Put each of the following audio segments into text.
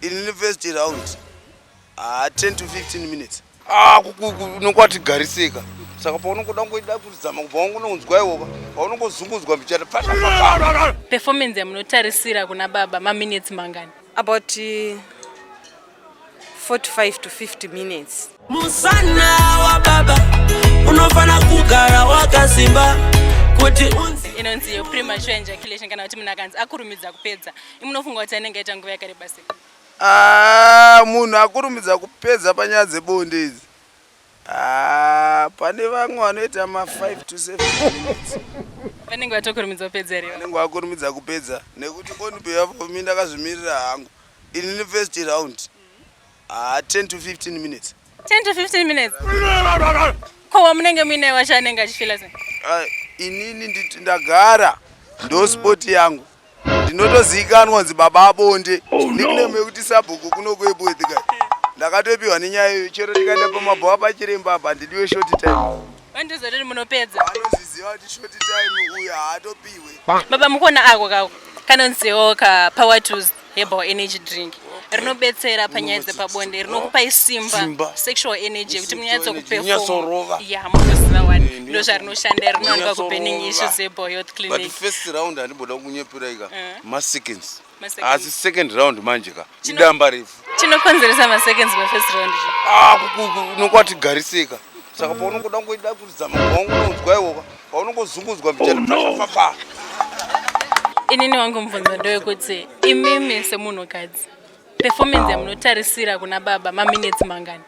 Inini first round ah 10 to 15 minutes. Ah unokwati garisika. Saka paunongoda ngoida kuzama kubva wangu unonzwa iwoka. Paunongozungudzwa mbichata pasha. Performance yamunotarisira kuna baba ma minutes mangani? About uh, 45 to 50 minutes. Musana wa baba unofana kugara wakasimba kuti unzi inonzi yo premature ejaculation kana kuti munhu akanzi akurumidza kupedza Munofunga kuti anenge aita nguva yakareba sei? Ah, munhu akurumidza kupedza panyaya dzebonde idzi. Ah, pane vamwe vanoita ma 5 to 7 minutes. Vanenge vatokurumidza kupedza here? Vanenge vakurumidza kupedza nekuti only behalf of me ndakazvimirira hangu. Inini first round. Ah, 10 to 15 minutes. 10 to 15 minutes. Ko wamunenge muine wacho anenge achifila sei? Ah, inini nditi ndagara ndo sport yangu. Ndinotozikanwa kunzi baba abonde. Oh, no. Nickname yekuti sabhuku kuno kuEpworth kai. Ndakatopiwa nenyaya iyo chero ndikaenda pamabhawa pachiremba apa ndidiwe short time. Vandizoti munopedza. Vanozviziva kuti short time uyu haatopihwe. Baba mukona ako kako kanonziwo ka power tools herbal energy drink rinobetsera panyaya dzepabonde rinokupai simba sexual energy kuti munyatsokupeforma ya munoziva wani eh, ndo zvarinoshanda rinowanikwa kuburning issues herbal health clinic but first round handimboda kunyeperai ka eh. maseconds asi second round manje ka idamba refu chinokonzeresa maseconds mafirst round ah, nokwatigariseka saka paunongoda kungoida kuridza magongo unonzwa iwoka paunongozungudzwa mbichaafafa oh, inini wangu mubvunzo ndowekuti imimi semunhukadzi performance yamunotarisira kuna baba maminetsi mangani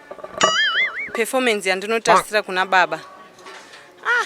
performance yandinotarisira kuna baba ah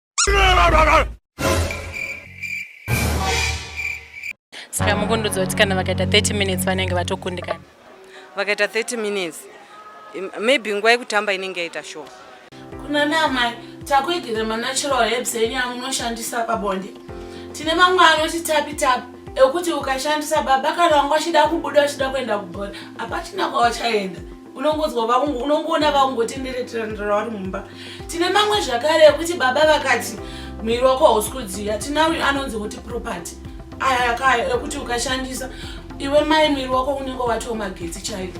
saka mukundudzo kuti kana vakaita 30 minutes vanenge vatokundikana vakaita 30 minutes maybe nguva yekutamba inenge yaita show kuna namai takuigire manatural herbs enyu amunoshandisa pabonde tine mamwe anoti tapi tapi ekuti ukashandisa baba kana wanga uchida kubuda uchida kuenda kubhora hapachina kwawachaenda unongonzwa vaungu unongoona vaungotendereterandira vari mumba tine mamwe zvakare ekuti baba vakati mwiri wako hausi kudziya tina uyu anonzi kuti property aya kaya ekuti ukashandisa iwe mai mwiri wako unenge watomagetsi chaiko